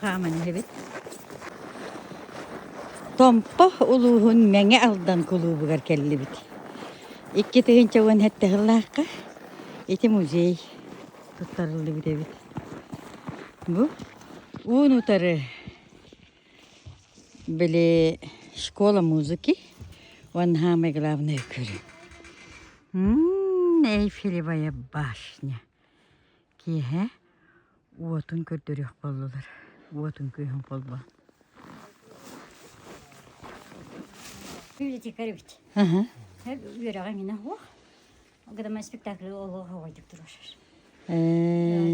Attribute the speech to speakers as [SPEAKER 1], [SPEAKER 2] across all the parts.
[SPEAKER 1] хааман иһэбит. Томпо улууһун Мэҥэ Алдан кулуубугар кэллибит. Икки тыһыынча уон сэттэ һыллаахха ити музей туттарыллыбыт эбит. Бу уун утары били школа музыки Ван самое главное көрү. Эйфелевая башня. Киэһэ уотун көрдөрүөх боллулар. Уотун күйһүн болбо. Юрий Дикарович. Үөрэҕиҥинэ хуох. Громоспектакль олох оҕайдык турашар.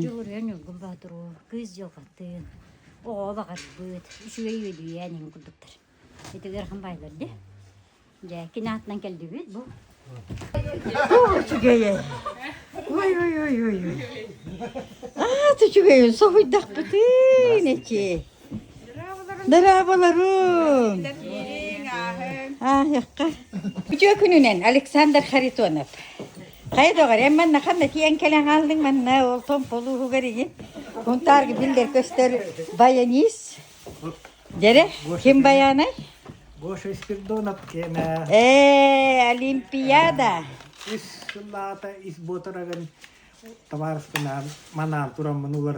[SPEAKER 1] Дьулуруйан Ньургун Боотуру, Кыыс Дьылҕатын, Оҕо баҕарбыт, Үчүгэй үөдүйээн иҥ курдуктар. Итигэр хам баайлар де. Дьэ, кини атынан келдибит бу. Үчүгэйэ. Ой, ой, ой, ой, ой. Аат үчүгэйин соһуйдахпытын эчи. Дыраабаларым! Аахыахха. Үтүө күнүнэн Александр Харитонов. Хайа доҕор, эн манна ханна тиэн кэлэн хаалдыҥ манна ол том полууһугар игин кунтаарга биллер көстөр баянис дэрэ ким баянай Гоша Спирдонов киэнэ ээ олимпиада ис сыллаата ис буотарагын табаарыспынаан манаан тураммын улар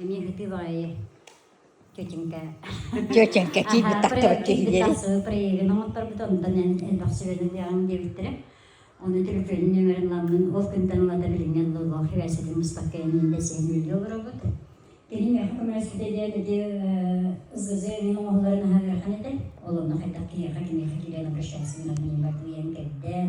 [SPEAKER 1] Эмиэ кытыы баҕайы тетенька тетенька киирбит тахтыбат киһилэри проегын оҥотторбут онтон эн элбэх сүбэнэн диэҕим диэбиттэрэ оны телефонун нөмөрүн ламнын ол күнтэн ылата билиҥҥen логлох хибээситин быспакка энин да сиһин үллэ олоробут Тирин үһү көмөлөспүтэ диэн ити ЗЗ эҥин оҥоһуларын аһарыахан этэ олонно хайдах киниэхэ киниэхэ киирэн обращайсын рамнин бартуйан кэрдэн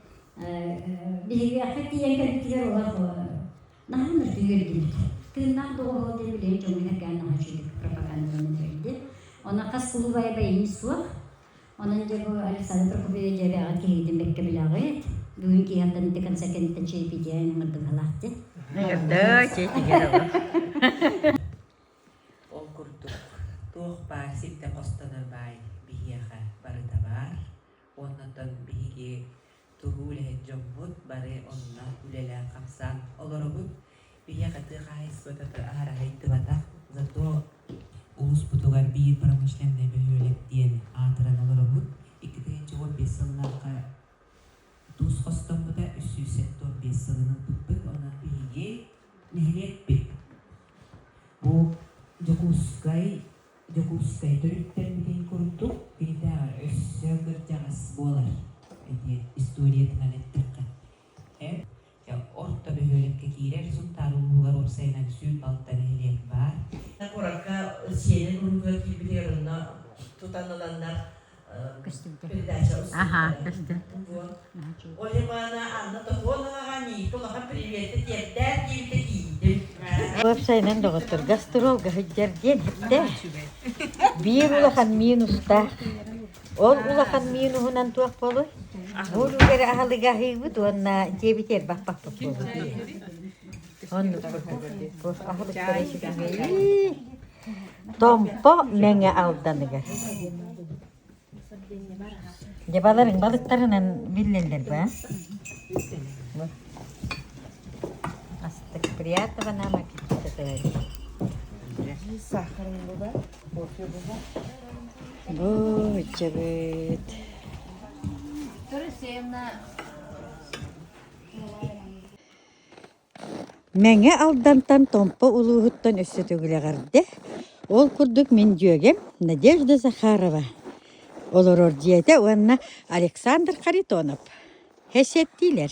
[SPEAKER 1] Биһиэхэ тиийэн кэлбитигэр олор наһаа мөлтөй көрдүбүт. Тыыннаах доҕоһуол диэн билигин дьоҥҥо этэргээн наһаа үчүгэйдик пропагандаланан биэрдэ. Онон хас кулубайа бэйэҥ суох. Онон дьэ бу Александр Прокопьевич дьээбэҕэ киһигитин бэккэбилэҕит. Бүгүн киһиэхтэн ити концертинтэн чиэпидьээн мырдыҥалаах дин. Да, чиэтигэр Ол курдук туох баар сирдэ хостонор баай биһиэхэ барыта баар. Оннуттан биһиги тугу үлэһит дьоммут бары онно үлэлээн-хамсаан олоробут. Биһиэхэ тыа хаһаайыстыбата аһараһыйдыбатах, зато улууспутугар биир промышленнай бөһүөлэк диэн аатыран олоробут. Икки тыһыынча уон биэс сыллаахха туус хостоммута үс сүүс сэттэ уон биэс сылын ылбыппыт. Онон биһиги нэһилиэкпит бу Дьокуускай Дьокуускай төрүттэммитин курдук, итиннэ өссө кырдьаҕас буолар диэн историятынан эттэххэ, эн орто бөһүөлэккэ киирэр Сунтаар улууһугар уопсайынан сүүн балта нэһилиэк баар. Куоракка сиэнин уруһуйга киирбитигэр онно тутан ыланнар Аха, көстүм. Ол Ивана Анна Топоноваҕа миигинэ улахан приветти тиэрдээн диэбитэ тиийдим. Уопсайынан доҕоттор гастролга сылдьар диэн эттэ. Биир улахан минустаах. Ол улахан минуһунан туох болуй? Бу үлүгэр аһалыга аһыыбыт уонна диэбит ербаппаппыт буолбут. Оннук. Аһылыктары ситимей. Томпо Мэҥэ Алданыгар Дьэ баларыҥ балыктарынан биллэллэр бу аа Астык приятного нам аппетита Быччабыт Мэҥэ Алдантан Томпо улууһуттан өссө төгүлэҕэрдэ, ол курдук мин дьүөгэм Надежда Захарова олорор дьиэтэ уонна Александр Харитонов кэсиэттиилэр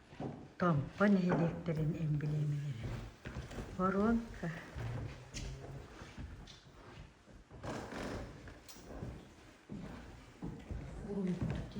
[SPEAKER 1] Томпо нэһилиэктэрин эмбилиэмэлэрэ воронка урукку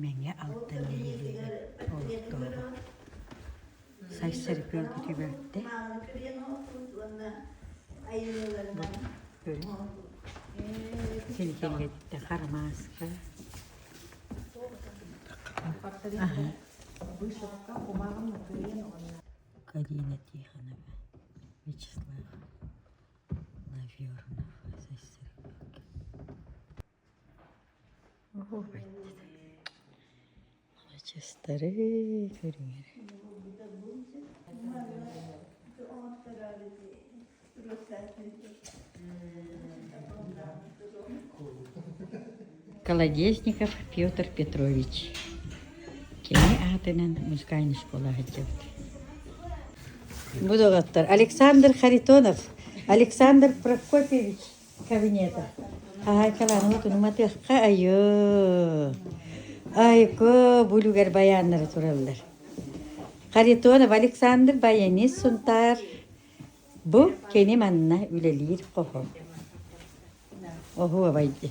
[SPEAKER 1] Мэҥэ Алдан нэһилиэгин пролеттооҕо. Сайсары күөлбүтүгэр тэ силигиҥҥитэ харамааска Карина Тихонова Вячеслав Навернов Сайсары күөлгэ Честары көрүҥэр Колодезников Петр Петрович кини аатынан музыкальнай школа сылдьабыт Бу доҕоттор Александр Харитонов, Александр Прокопьевич Кабинета. Хаһаайкалааныма тунум атыахха айыы. Айко булугар баяннары тураллар. Харитонов Александр Баянис Сунтаар. Бу кини манна үлэлиир хоһо. Оһуобайди.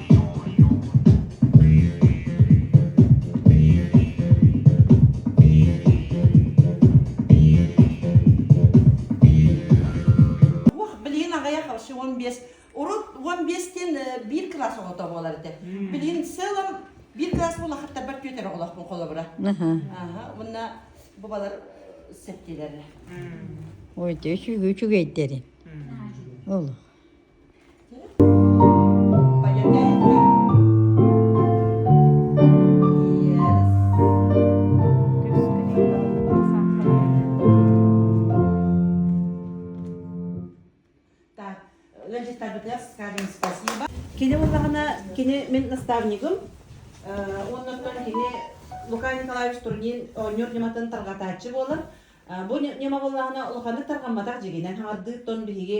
[SPEAKER 1] Блин аҕыйах алшы уон биэс урут уон биэс диэн биир кылаас оҕото буолар этэ билин целом биир кылаас булахаттарбар түөтэр оҕолохпун холобура аха мунна бубалар септилерре ой те сүгү сүгейдерин ол Кини буллаҕына, кини мин наставнигым, уоннан кини Лукай Николаевич Турнин оонньуур ньыматын тарҕатааччы буолар. Бу ньыма буллаҕына улаханнык тарҕамматах дьигинэн хаҥардыыттан биһиги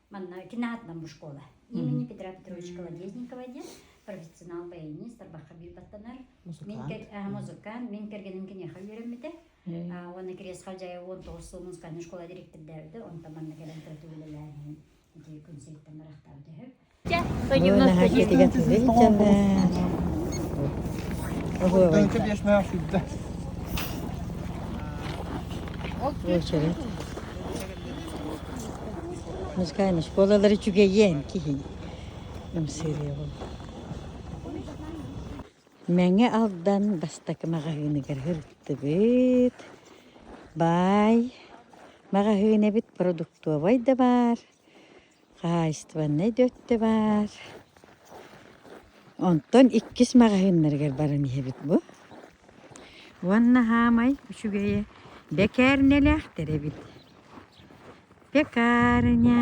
[SPEAKER 1] Манна кинаатынан бушкола имени Петра Петровича Колодезникова диэн профессионал баянист тарбахха биир баттанар музыкант мен кэргеним киниэхэ үөрэммитэ уонна крест хозяева он тоҕус сыл музыкальный школа директордээбитэ онтон манна кэлэн тойоту үлэлээн иһин ити күнсүйүттэн барахтаабыт үһү дьэ союзнаха диэтигэ Окей. Музыкальнай оскуолалары үчүгэйиэн киһи ымсыырыаҕым. Мэҥэ Алдан бастакы маҕаһыыныгар сырыттыбыт. Баай маҕаһыын эбит, продуктовай да баар. хаһаайыстыбаннай да өттө баар. Онтон иккис маҕаһыыннарыгар баран иһэбит бу. Уонна хаамай үчүгэйэ бэкээрнэлээхтэр эбит. Пекарня.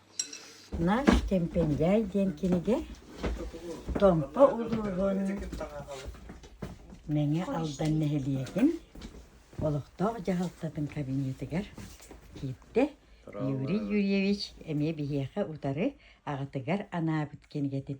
[SPEAKER 1] Наш Кэмпэндяй диэн кинигэ Томпо улууһун Мэҥэ Алдан нэһилиэгин олохтоох дьаһалтатын кабинетыгар киирдэ. Юрий Юрьевич эмиэ биһиэхэ утары аҕатыгар анаабыт кинигэтин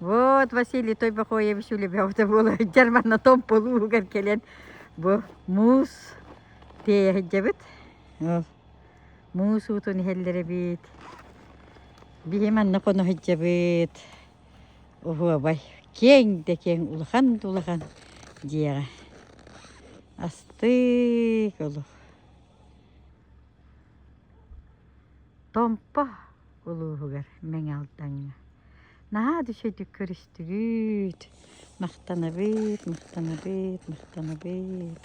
[SPEAKER 1] Вот Василий Той Бахоевич үлэбэҕитэ буолар дьар манна томполуугар кэлэн бу муус тиэйэ сылдьабыт. Муус уутун иһэллэр эбит. Биһи манна хоно сылдьабыт. Оһуобай, киэҥ да киэҥ, улахан да улахан дьиэҕэ. Астык олох. Томпо. улууһугар Мэҥэ Алдаҥҥа. Наһаа үчүгэйдик көрүстүгүт. Махтанабыт, махтанабыт, махтанабыт.